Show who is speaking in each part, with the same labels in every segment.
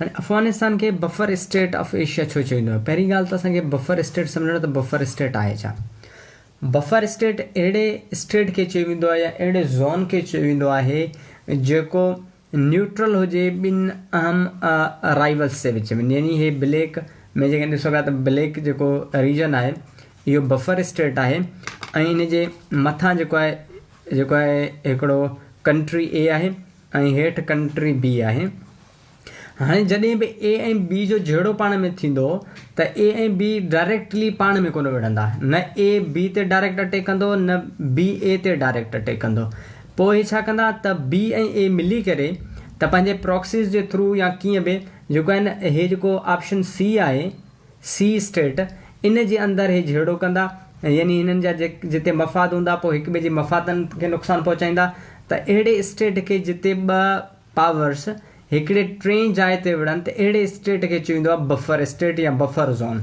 Speaker 1: هاڻي افغانستان کي buffer state of Asia ڇو چئي ويندو آهي؟ پهرين ڳالهه ته اسان کي بفر اسٽيٽ سمجهڻو ته بفر اسٽيٽ آهي ڇا؟ بفر اسٽيٽ اهڙي اسٽيٽ کي چئي ويندو آهي يا اهڙي زون کي چئي ويندو آهي جيڪو نيوٽرل هجي ٻن اهم رائيولس جي وچ ۾ يعني هي بليڪ ۾ جيڪڏهن ڏسو پيا ته بليڪ جيڪو ريجن آهي اهو بفر اسٽيٽ آهي ۽ ان جي مٿان جيڪو آهي جيڪو آهي هڪڙو ڪنٽري اي آهي ۽ هيٺ ڪنٽري بي آهي هاڻي جڏهن به اي ۽ بي جو جهيڙو پاڻ ۾ ٿيندو ته اي ۽ بي ڊائريڪٽلي پاڻ ۾ ڪونه وڙهندا نه اي بي تي ڊائريڪٽ اٽيڪ ڪندو نه بي اي تي ڊائريڪٽ اٽيڪ ڪندو پوء هي ڇا ڪندا ته بي ۽ اي ملي ڪري ته پنهنجي پراڪسيز جي ٿرو يا ڪيئن به جيڪو آهي نه هي جيڪو آپشن سي آهي سي اسٽيٽ ان جي اندر هي جهيڙو ڪندا يعني هنن جا جتي مفاد هوندا پوء هڪ ٻئي جي مفادن کي نقصان پهچائيندا ته اهڙي اسٽيٽ کي جتي ٻه پاورس هڪڙي ٽئين جاء تي وڙهن ته اهڙي اسٽيٽ کي چيو ويندو آهي بفر اسٽيٽ يا بفر زون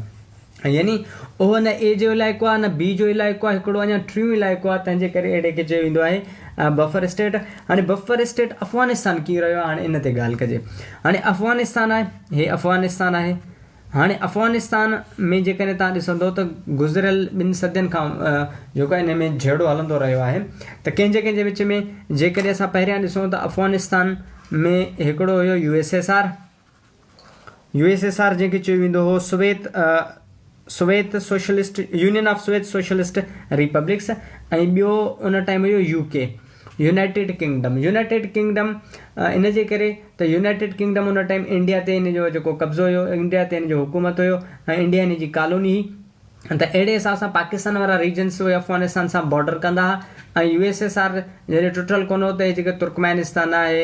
Speaker 1: يعني اهو نه اي جو علائقو آهي نه بي جو علائقو آهي هڪڙو اڃا ٽيون علائقو آهي تنهن جي ڪري اهڙي کي چيو ويندو آهي بفر اسٽيٽ هاڻي بفر اسٽيٽ افغانستان ڪيئن رهيو آهي هاڻي ان تي ڳالهه ڪجي هاڻي افغانستان آهي هي افغانستان آهي هاڻي افغانستان ۾ جيڪڏهن توهان ڏسندو ته گذريل ٻن صدين کان جيڪو ان ۾ جهيڙو هلندو رهيو آهي ته ڪنهن جي ڪنهن جي وچ ۾ جيڪڏهن اسان پهريان ڏسون ته افغانستان ۾ هڪڙو هيو U S S R U S S R جنهن کي چيو ويندو هو Soviet Soviet socialist union of Soviet socialist republics ۽ ٻيو ان ٽائيم هيو U K United Kingdom, United Kingdom، ان جي ڪري ته يونائيٽيڊ ڪنگڊم ان ٽائيم انڊيا تي ان جو جيڪو قبضو هيو، انڊيا تي ان جو حڪومت هيو ۽ انڊيا ان جي ڪالوني هئي ته اهڙي حساب سان پاڪستان وارا ريجنس اهي افغانستان سان بارڊر ڪندا ها ۽ يو ايس ايس آر جڏهن ٽٽل ڪونه هو ته اهي جيڪي ترڪمانستان آهي،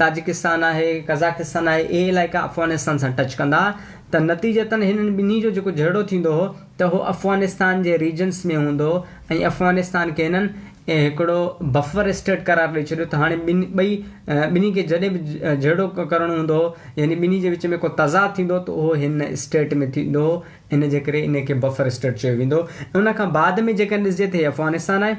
Speaker 1: تاجڪستان آهي، قزاقستان آهي اهي علائقا افغانستان سان ٽچ ڪندا ها ته نتيجتن هنن ٻنهي جو جيڪو جهيڙو ٿيندو هو ته هو افغانستان جي ريجنس ۾ هوندو ۽ افغانستان کي هنن هڪڙو بفر اسٽيٽ قرار ڏئي ڇڏيو ته هاڻي ٻن ٻئي ٻنهي کي جڏهن به جهيڙو ڪرڻو هوندو يعني ٻنهي جي وچ ۾ ڪو تضاد ٿيندو ته اهو هن اسٽيٽ ۾ ٿيندو ان جي ڪري ان کي بفر اسٽيٽ چيو ويندو ۽ ان کان بعد ۾ جيڪڏهن ڏسجي ته هي افغانستان آهي.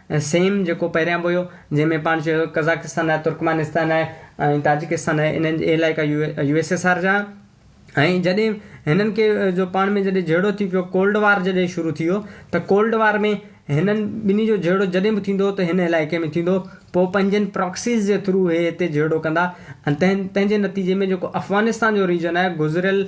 Speaker 1: سيم جيڪو پهريان به هيو جنهن ۾ پاڻ چيو هيو قزاقستان آهي ترڪمانستان آهي ۽ تاجڪستان آهي انهن جي اهي علائقا U U S S R جا هيا ۽ جڏهن هنن کي جو پاڻ ۾ جڏهن جهيڙو ٿي پيو ڪولڊ وار جڏهن شروع ٿي ويو ته ڪولڊ وار ۾ هنن ٻنهي جو جهيڙو جڏهن به ٿيندو هو ته هن علائقي ۾ ٿيندو هو پوء پنهنجن پراڪسيز جي ٿرو هي هتي جهيڙو ڪندا ۽ تنهن تنهن جي نتيجي ۾ جيڪو افغانستان جو ريجن آهي گذريل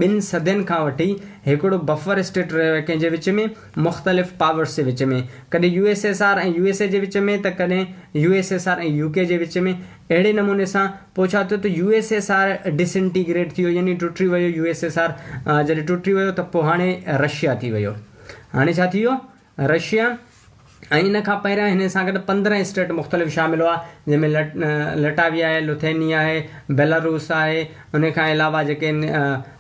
Speaker 1: ٻن صدين کان وٺي هڪڙو بفر اسٽيٽ رهيو آهي ڪنهن جي وچ ۾ مختلف پاورز جي وچ ۾ ڪڏهن U S S R ۽ U S A جي وچ ۾ ته ڪڏهن U S S R ۽ U K جي وچ ۾ اهڙي نموني سان پوء ڇا ٿيو ته U S S R disintegrate ٿي ويو يعني ٽٽي ويو يو ايس ايس آر جڏهن ٽٽي ويو ته پوء هاڻي رشيا ٿي ويو هاڻي ڇا ٿي ويو رشيا ۽ ان کان پهريان هن سان گڏ پندرهن اسٽيٽ مختلف شامل هئا جنهن ۾ لٽاويا آهي لوٿينيا آهي بيلاروس آهي ان کان علاوه جيڪي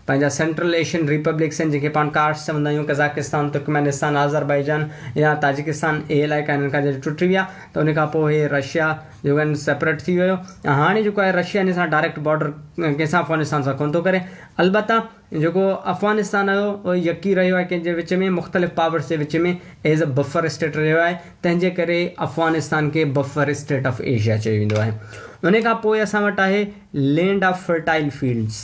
Speaker 1: پنهنجا سينٽرل ايشين ريپبلڪس ۽ جن کي پاڻ ڪارس چوندا آهيون، قزاقستان، ترڪمانستان، آذربائيجان يا تاجڪستان، اهي علائقا هنن کان جڏهن ٽٽي ويا ته ان کان پوء هي رشيا جو ڪن سيپريٽ ٿي ويو ۽ هاڻي جيڪو آهي رشيا هن سان ڊائريڪٽ بارڊر ڪنهن سان افغانستان سان ڪونه ٿو ڪري البته جيڪو افغانستان آهي اهو يڪي رهيو آهي ڪنهن جي وچ ۾ مختلف پاورس جي وچ ۾ ايز اي بفر اسٽيٽ رهيو آهي تنهن جي ڪري افغانستان کي بفر اسٽيٽ آف ايشيا چيو ويندو آهي ان کان پوء اسان وٽ آهي لينڊ آف فرٽائل فيلڊس.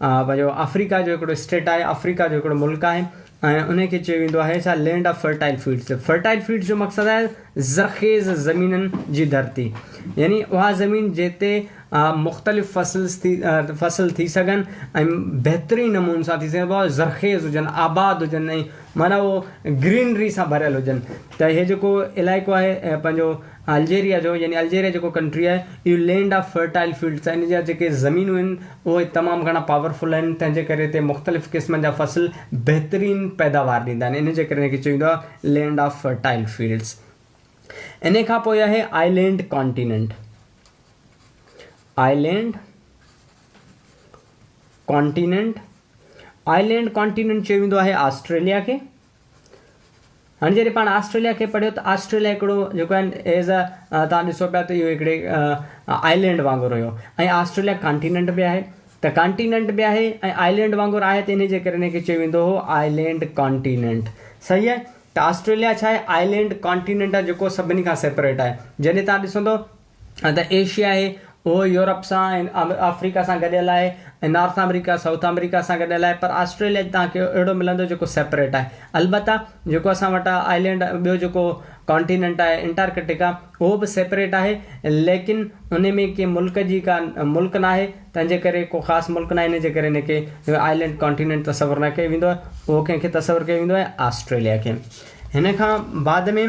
Speaker 1: پنهنجو آفريڪا جو هڪڙو اسٽيٽ آهي آفريڪا جو هڪڙو ملڪ آهي ۽ انهي کي چيو ويندو آهي ڇا land of fertile fields fertile fields جو مقصد آهي زرخيز زمينن جي ڌرتي يعني اها زمين جتي مختلف فصلز ٿي فصل ٿي سگهن ۽ بهترين نمون سان ٿي سگهن زرخيز هجن آباد هجن ۽ معنيٰ اهو گرينري سان ڀريل هجن ته هي جيڪو علائقو آهي پنهنجو الجيريا جو يعني الجيريا جيڪو ڪنٽري آهي اهو لينڊ آف فرٽائل فيلڊس آهي ان جا جيڪي زمينون آهن اهي تمام گهڻا پاور فل آهن تنهن جي ڪري هتي مختلف قسمن جا فصل بهترين پيداوار ڏيندا آهن ان جي ڪري ان کي چئي ويندو آهي لينڊ آف فرٽائل فيلڊس انهي کان پوء آهي island continent island continent island continent چيو ويندو آهي آسٽريليا کي هاڻي جڏهن پاڻ آسٽريليا کي پڙهيو ته آسٽريليا هڪڙو جيڪو آهن ايز ا توهان ڏسو پيا ته اهو هڪڙي آئلينڊ وانگر هيو ۽ آسٽريليا ڪانٽيننٽ به آهي ته ڪانٽيننٽ به آهي ۽ آئلينڊ وانگر آهي ته انهي جي ڪري هن کي چيو ويندو هو آئلينڊ ڪانٽيننٽ صحيح آهي ته آسٽريليا ڇا آهي آئلينڊ ڪانٽيننٽ آهي جيڪو سڀني کان سيپريٽ آهي جڏهن توهان ڏسندو ها ته ايشيا آهي اهو يورپ سان ۽ آفريڪا سان گڏيل آهي ۽ نارٿ آمريڪا سائوٿ آمريڪا سان گڏيل آهي پر آسٽريليا جي توهان کي اهڙو ملندو جيڪو سيپريٽ آهي البته جيڪو اسان وٽ آئلينڊ ٻيو جيڪو ڪانٽيننٽ آهي انٽارڪٽڪا اهو به سيپريٽ آهي ليڪن ان ۾ ڪي ملڪ جي ڪا ملڪ ناهي تنهن جي ڪري ڪو خاص ملڪ ناهي ان جي ڪري ان کي آئلينڊ ڪانٽيننٽ تصور نه ڪيو ويندو آهي اهو ڪنهن کي تصور ڪيو ويندو آهي آسٽريليا کي هن کان بعد ۾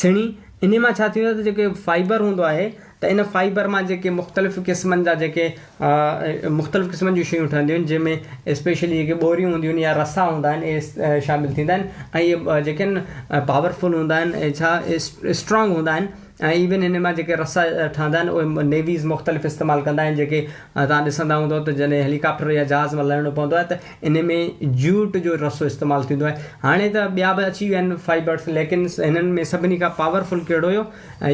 Speaker 1: سھڻي، انھي مان ڇا ٿيندو آھي ته جيڪي فائبر ھوندو آھي ته ان فائبر مان جيڪي مختلف قسمن جا جيڪي مختلف قسمن جون شيون ٺھنديون آھن جنھن ۾ اسپيشلي جيڪي ٻوريون ھونديون آھن يا رسا ھوندا آھن اھي شامل ٿيندا آھن ۽ اھي جيڪي آھن پاور فل ھوندا آھن ۽ ڇا اسٽرانگ ھوندا آھن ۽ ايون انھي مان جيڪي رسا ٺھندا آھن اھي نيويز مختلف استعمال ڪندا آھن جيڪي تھان ڏسندا ھوندو ته جڏھن ھيليڪاپٽر يا جھاز مان لھڻو پوندو آھي ته ان ۾ جوٽ جو رسو استعمال ٿيندو آهي هاڻي ته ٻيا به اچي ويا آهن فائبرس ليڪن هنن ۾ سڀني کان پاورفل ڪهڙو هيو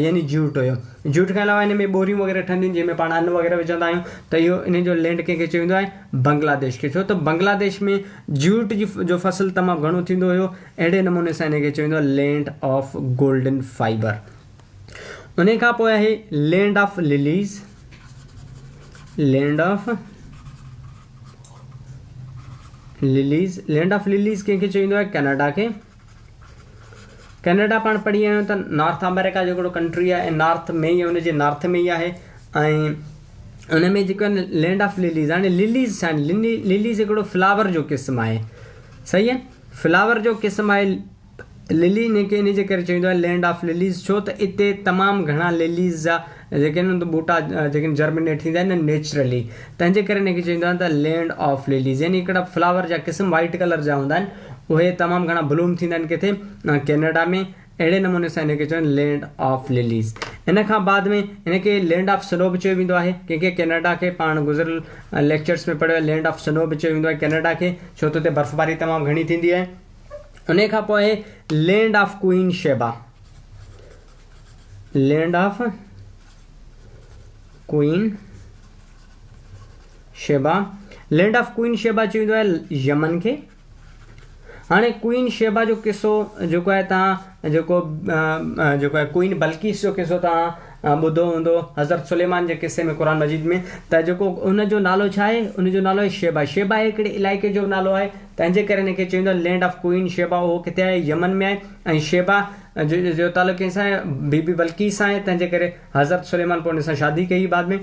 Speaker 1: يعني جوٽ هيو جوٽ کان علاوه هن ۾ ٻوريون وغيره ٺهنديون آهن جنهن ۾ پاڻ ان وغيره وجهندا آهيون ته اهو ان جو لينڊ ڪنهن کي چيو ويندو آهي بنگلاديش کي ڇو ته بنگلاديش ۾ جوٽ جي جو فصل تمام گهڻو ٿيندو هيو اهڙي نموني سان ان کي چيو ويندو آهي لينڊ آف گولڊن فائبر انهي کان پوء آهي land of lilies land of lilies land of lilies ڪنهن کي چيو ويندو آهي ڪينيڊا کي ڪينيڊا پاڻ پڙهي آيو ته نارٿ آمريڪا جو هڪڙو ڪنٽري آهي ۽ نارٿ ۾ ئي ان جي نارٿ ۾ ئي آهي ۽ ان ۾ جيڪو آهي لينڊ آف لليز هاڻي لليز ڇا آهن لليز هڪڙو فلاور جو قسم آهي صحيح آهي فلاور جو قسم آهي للي ان کي ان جي ڪري چوندو آهي لينڊ آف لليز ڇو ته اتي تمام گهڻا لليز جا جيڪي آهن ته ٻوٽا جيڪي آهن جرمنيٽ ٿيندا آهن ۽ نيچرلي تنهن جي ڪري ان کي چوندو آهن ته لينڊ آف لليز يعني هڪڙا فلاور جا قسم وائيٽ ڪلر جا هوندا آهن اهي تمام گهڻا بلوم ٿيندا آهن ڪٿي ڪينيڊا ۾ اهڙي نموني سان ان کي چون لينڊ آف لليز ان کان بعد ۾ ان کي لينڊ آف سنو به چيو ويندو آهي ڪنهن کي ڪينيڊا کي پاڻ گذريل ليڪچرس ۾ پڙهيو لينڊ آف سنو به چيو ويندو آهي ڪينيڊا کي ڇو ته اتي برفباري تمام گهڻي ٿيندي آهي انهي کان پوء land of queen Sheba land of queen Sheba land of queen Sheba چوندو آهي يمن کي هاڻي ڪوئين شيبا جو قصو جيڪو آهي تان جيڪو جيڪو آهي ڪوئين بلقيس جو قصو توهان ٻڌو هوندو حضرت سليمان جي قصي ۾ قرآن مجيد ۾ ته جيڪو ان جو نالو ڇا آهي ان جو نالو آهي شيبا شيبا هي هڪڙي علائقي جو نالو آهي تنهن جي ڪري هن کي چوندو آهي لينڊ آف ڪوئين شيبا اهو ڪٿي آهي يمن ۾ آهي ۽ شيبا جو تعلق ڪنهن سان آهي بي بي بلقيس سان آهي تنهن جي ڪري حضرت سليمان پوء ان سان شادي ڪئي بعد ۾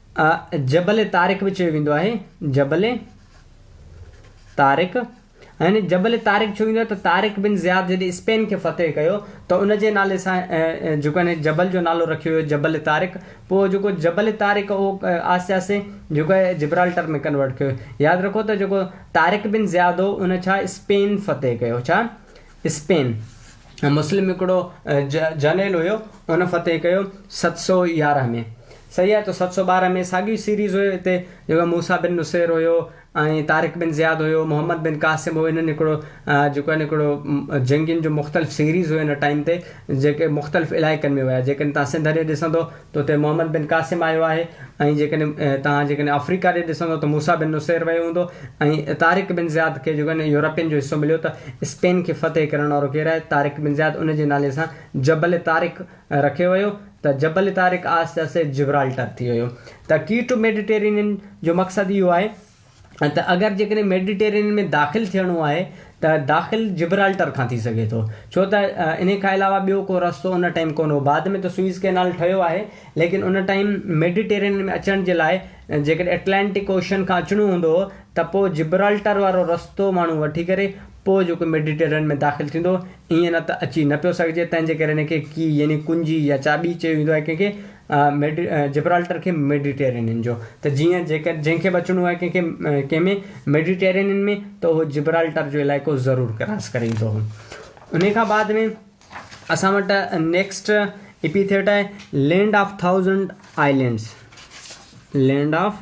Speaker 1: آء جبل طارق به چيو ويندو آهي، جبل طارق يعني جبل طارق ڇو ويندو آهي ته طارق بن زياد جڏهن اسپين کي فتح ڪيو ته ان جي نالي سان جيڪو آهي ني جبل جو نالو رکيو ويو جبل طارق پوء جيڪو جبل طارق اهو آهستي آهستي جيڪو آهي جبرالٽر ۾ ڪنورٽ ڪيو ويو ياد رکو ته جيڪو طارق بن زياد هو ان ڇا اسپين فتح ڪيو ڇا اسپين ۽ مسلم هڪڙو جنرل هيو ان فتح ڪيو ست سؤ يارهن ۾ صحيح آهي ته ست سؤ ٻارهن ۾ ساڳيو سيريز هيو هتي جيڪو موسيٰ بن نصير هيو ۽ طارق بن زياد هيو محمد بن قاسم هو هنن هڪڙو جيڪو آهي نه هڪڙو جنگين جو مختلف سيريز هيو ان ٽائيم تي جيڪي مختلف علائقن ۾ ويا جيڪڏهن تهان سنڌ هڏي ڏسندو تو تي محمد بن قاسم آيو آهي ۽ جيڪڏهن توهان جيڪڏهن آفريڪا ڏي ڏسندو ته موسيٰ بن نصير ويو هوندو ۽ طارق بن زياد کي جيڪڏهن يورپين جو حصو مليو ته اسپين کي فتح ڪرڻ وارو ڪير آهي؟ طارق بن زياد ان جي نالي سان جبل طارق رکيو ويو ته جبل طارق آهستي آهستي جبرالٽر ٿي ويو ته ڪي ٽو ميڊيٽيرينين جو مقصد اهو آهي ته اگر جيڪڏهن ميڊيٽرينين ۾ داخل ٿيڻو آهي ته داخل جبرالٽر کان ٿي سگهي ٿو ڇو ته انهي کان علاوه ٻيو ڪو رستو ان ٽائيم ڪونه هو بعد ۾ ته سوئيز ڪئنال ٺهيو آهي ليڪن ان ٽائيم ميڊيٽرينين ۾ اچڻ جي لاء جيڪڏهن اٽلانٽڪ اوشن کان اچڻو هوندو هو ته پوء جبرالٽر وارو رستو ماڻهو وٺي ڪري پوء جيڪو ميڊيٽرين ۾ داخل ٿيندو، ائين نه ته اچي نه پيو سگهجي، تنهن جي ڪري هن کي ڪي يعني ڪنجي يا چاٻي چيو ويندو آهي ڪنهن کي ميڊي جبرالٽر کي ميڊيٽرينين جو ته جيئن جيڪر جنهن کي به اچڻو آهي ڪنهن کي ڪنهن ۾ ميڊيٽرينين ۾ ته اهو جبرالٽر جو علائقو ضرور ڪراس ڪري ايندو هو انهي کان بعد ۾ اسان وٽ نيڪسٽ اپيٿيٽ آهي land of thousand islands land of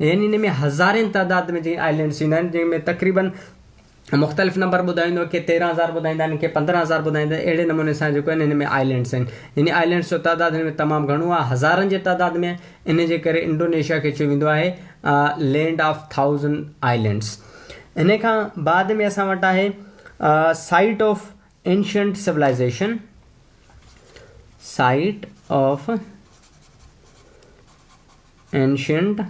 Speaker 1: يعني ان ۾ هزارين تعداد ۾ جيئن آئلينڊس ايندا آهن جنهن ۾ تقريباً مختلف نمبر ٻڌائيندو ڪي تيرهن هزار ٻڌائيندا آهن ڪي پندرهن هزار ٻڌائيندا آهن اهڙي نموني سان جيڪو آهن ان ۾ آئلينڊس آهن يعني آئلينڊس جو تعداد ان ۾ تمام گهڻو آهي هزارن جي تعداد ۾ ان جي ڪري انڊونيشيا کي چيو ويندو آهي لينڊ آف ٿائوزنڊ آئلينڊس ان کان بعد ۾ اسان وٽ آهي site of ancient civilization site of Ancient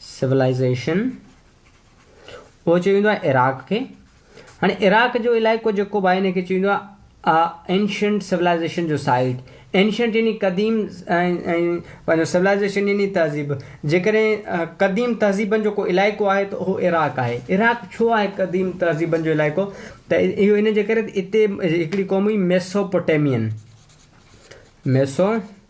Speaker 1: Civilization اهو چيو ويندو آهي عراق کي هاڻي عراق جو علائقو جيڪو به آهي ان کي چيو ويندو آهي Ancient Civilization جو سائيٽ Ancient يعني قديم ۽ Civilization يعني تهذيب جيڪڏهن قديم تهذيبن جو ڪو علائقو آهي ته اهو عراق آهي عراق ڇو آهي قديم تهذيبن جو علائقو ته اهو ان جي ڪري اتي هڪڙي قوم هئي Mesopotamian Mesopotamian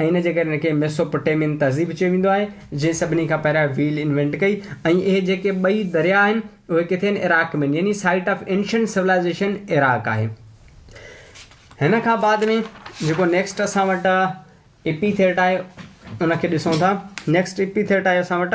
Speaker 1: ۽ ان جي ڪري هن کي ميسوپوٽيمين تهذيب چيو ويندو آهي، جنهن سڀني کان پهريان ويل انوينٽ ڪئي ۽ اهي جيڪي ٻئي درياء آهن، اهي ڪٿي آهن؟ عراق ۾ آهن، يعني site of ancient civilization Iraq آهي. هن کان بعد ۾ جيڪو نيڪسٽ اسان وٽ ايپيٿيٽ آهي، ان کي ڏسون ٿا. نيڪسٽ ايپيٿيٽ آهي اسان وٽ.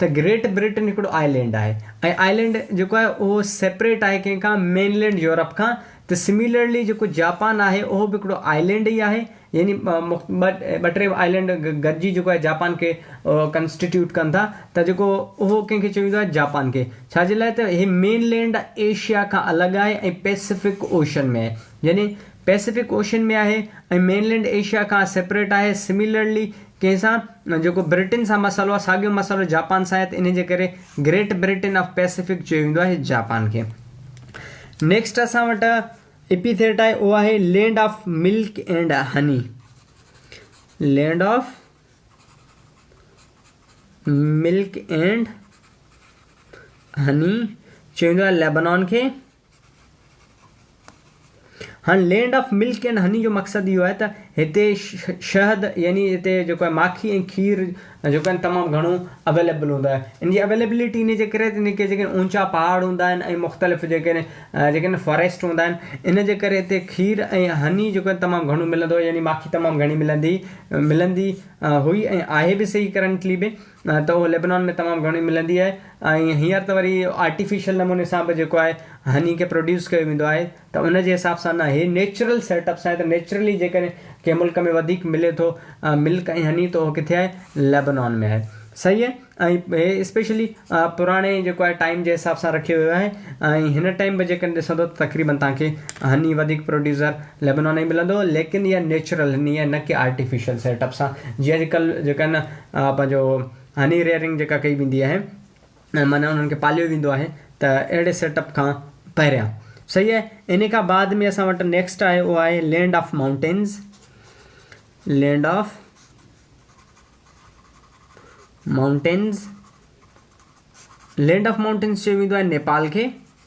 Speaker 1: ته گريٽ بريٽن هڪڙو آئلينڊ آهي ۽ آئلينڊ جيڪو آهي اهو سيپريٽ آهي ڪنهن کان مين لينڊ يورپ کان ته سميلرلي جيڪو جاپان آهي اهو به هڪڙو آئلينڊ ئي آهي يعني ٻه ٽي آئلينڊ گڏجي جيڪو آهي جاپان کي ڪنسٽيٽيوٽ ڪن ٿا ته جيڪو اهو ڪنهن کي چيو ويندو آهي جاپان کي ڇاجي لاء ته هي مين لينڊ ايشيا کان الڳ آهي ۽ پئسفڪ اوشن ۾ آهي يعني پئسفڪ اوشن ۾ آهي ۽ مين لينڊ ايشيا کان سيپريٽ آهي سميلرلي ڪنهن سان جيڪو برٽين سان مسئلو آهي ساڳيو مسئلو جاپان سان آهي ته انهي جي ڪري گريٽ برٽين آف پئسفڪ چيو ويندو آهي جاپان کي نيڪسٽ اسان وٽ ايپي ٿيٽ آهي اهو آهي land of milk and honey land of milk and honey چيو ويندو آهي ليبنان کي هن land of milk and honey جو مقصد اهو آهي ته هتي شهد يعني هتي جيڪو آهي ماکي ۽ کير جيڪو آهن تمام گهڻو اويليبل هوندو آهي ان جي اويليبلٽي ان جي ڪري ان کي جيڪي اونچا پهاڙ هوندا آهن ۽ مختلف جيڪي جيڪي آهن فاريسٽ هوندا آهن ان جي ڪري هتي کير ۽ هني جيڪو آهن تمام گهڻو ملندو يعني ماکي تمام گهڻي ملندي ملندي هئي ۽ آهي به صحيح ڪرنٽلي به ته اهو ليبنان ۾ تمام گهڻي ملندي آهي ۽ هينئر ته وري آرٽيفيشل نموني سان به جيڪو آهي هني کي پروڊيوس ڪيو ويندو آهي ته ان جي حساب سان نه هي نيچرل سيٽ اپ سان آهي ته نيچرلي جيڪڏهن ڪنهن ملڪ ۾ وڌيڪ ملي ٿو ملڪ ۽ هني ته اهو ڪٿي آهي ليبنان ۾ آهي صحيح آهي ۽ هي اسپيشلي پراڻي جيڪو آهي ٽائيم جي حساب سان رکيو ويو آهي ۽ هن ٽائيم به جيڪڏهن ڏسندو ته تقريبن تان کي هني وڌيڪ پروڊيوسر ليبنان ۾ ملندو ليڪن اها نيچرل هني آهي نه ڪي آرٽيفيشل سيٽ اپ سان جي اڄڪلهه جيڪا آهي نه پنهنجو هني ريئرنگ جيڪا ڪئي ويندي آهي معنيٰ انهن کي پاليو ويندو آهي ته اهڙي سيٽ اپ کان پهريان صحيح آهي ان کان بعد ۾ اسان وٽ نيڪسٽ آهي اهو آهي land of mountains land of mountains land of mountains چيو ويندو آهي نيپال کي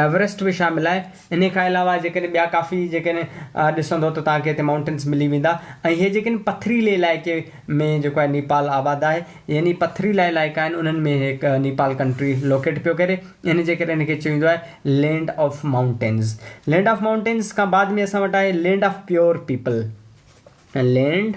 Speaker 1: ايوريسٽ به شامل آهي. انهي کان علاوه جيڪڏهن ٻيا ڪافي جيڪڏهن ڏسندو ته توهان کي هتي مائونٽنس ملي ويندا ۽ هي جيڪڏهن پٿريلي علائقي ۾ جيڪو آهي نيپال آباد آهي يعني پٿريلا علائقا آهن انهن ۾ هي نيپال ڪنٽري لوڪيٽ پيو ڪري يعني جيڪڏهن هن کي چيو ويندو آهي land of mountains land of mountains کان بعد ۾ اسان وٽ آهي land of pure people land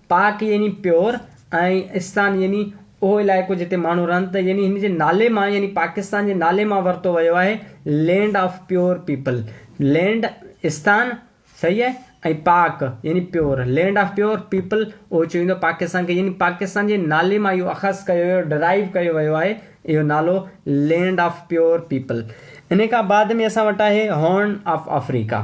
Speaker 1: پاڪ يعني پيور ۽ استان يعني اهو علائقو جتي ماڻهو رهن ته يعني هن جي نالي مان يعني پاڪستان جي نالي مان ورتو ويو آهي land of pure people land استان صحيح آهي ۽ پاڪ يعني pure land of pure people اهو چيو ويندو آهي پاڪستان کي يعني پاڪستان جي نالي مان اهو اخذ ڪيو ويو ڊرائيو ڪيو ويو آهي اهو نالو لينڊ آف پيور پيپل انهي کان بعد ۾ اسان وٽ آهي هارن آف آفريڪا.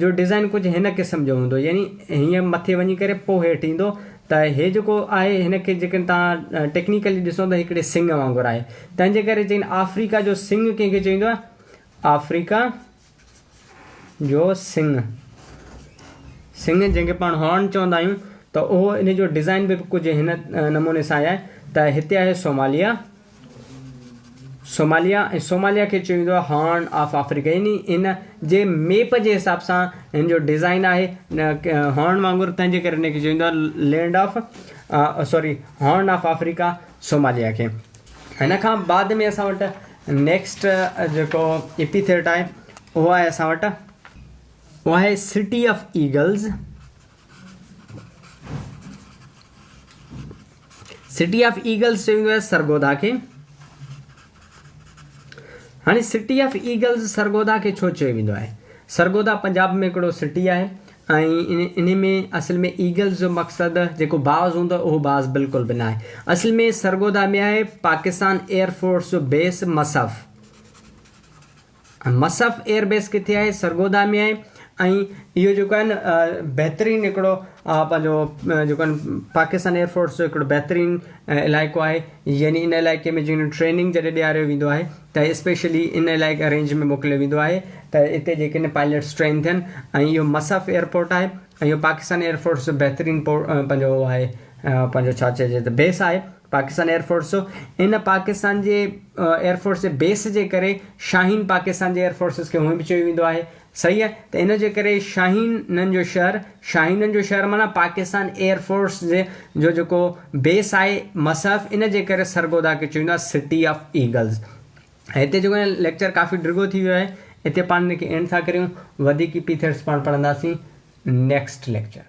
Speaker 1: جو ڊزائن ڪجهه هن قسم جو هوندو يعني هيئن مٿي وڃي ڪري پوء هيٺ ايندو ته هي جيڪو آهي هن کي جيڪڏهن توهان ٽيڪنيڪلي ڏسو ته هڪڙي سنگ وانگر آهي تنهن جي ڪري چين آفريڪا جو سنگ ڪنهن کي چئيندو آهي آفريڪا جو سنگ سنگ جنهن کي پاڻ هارن چوندا آهيون ته اهو ان جو ڊزائن به ڪجهه هن نموني سان آهي ته هتي آهي سوماليا صوماليا ۽ صوماليا کي چيو ويندو آهي هارن آف آفريڪا يعني هن جي ميپ جي حساب سان هن جو ڊيزائن آهي هارن وانگر تنهنجي ڪري هن کي چيو ويندو آهي land of sorry horn of Africa Somalia کي هن کان بعد ۾ اسان وٽ نيڪسٽ جيڪو ايپيٿيٽ آهي اهو آهي اسان وٽ اهو آهي city of eagles city of eagles چيو ويندو آهي سرگودا کي هاڻي سٽي آف ايگلز سرگودا کي ڇو چيو ويندو آهي سرگودا پنجاب ۾ هڪڙو سٽي آهي ۽ ان ۾ اصل ۾ ايگلز جو مقصد جيڪو باز هوندو اهو باز بالڪل به نه آهي اصل ۾ سرگودا ۾ آهي پاڪستان ايئر فورس جو base Mushaf ۽ Mushaf air base ڪٿي آهي سرگودا ۾ آهي ۽ اهو جيڪو آهي نه بهترين هڪڙو پنهنجو جيڪو آهن پاڪستان ايئر فورس جو هڪڙو بهترين علائقو آهي يعني ان علائقي ۾ جنهن ٽريننگ جڏهن ڏياريو ويندو آهي ته اسپيشلي ان علائقي رينج ۾ موڪليو ويندو آهي ته اتي جيڪي نه پائليٽس ٽرين ٿين ۽ اهو مصعف ايئرپورٽ آهي ۽ اهو پاڪستان ايئر فورس جو بهترين پنهنجو اهو آهي پنهنجو ڇا چئجي ته بيس آهي پاڪستان ايئرفورس ان پاڪستان جي ايئرفورس جي بيس جي ڪري شاهين پاڪستان جي ايئرفورسز کي هونئن به چيو ويندو آهي صحيح ته ان جي ڪري شاهينن جو شهر شاهينن جو شهر معنيٰ پاڪستان ايئرفورس جي جو جيڪو بيس آهي مصحف ان جي ڪري سرگوڌا کي چيو ويندو آهي سٽي آف ايگلز هتي جيڪو ليڪچر ڪافي ڊگهو ٿي ويو آهي هتي پاڻ ان کي اينڊ ٿا ڪريون وڌيڪ پيٿيٽس پاڻ پڙهنداسين نيڪسٽ ليڪچر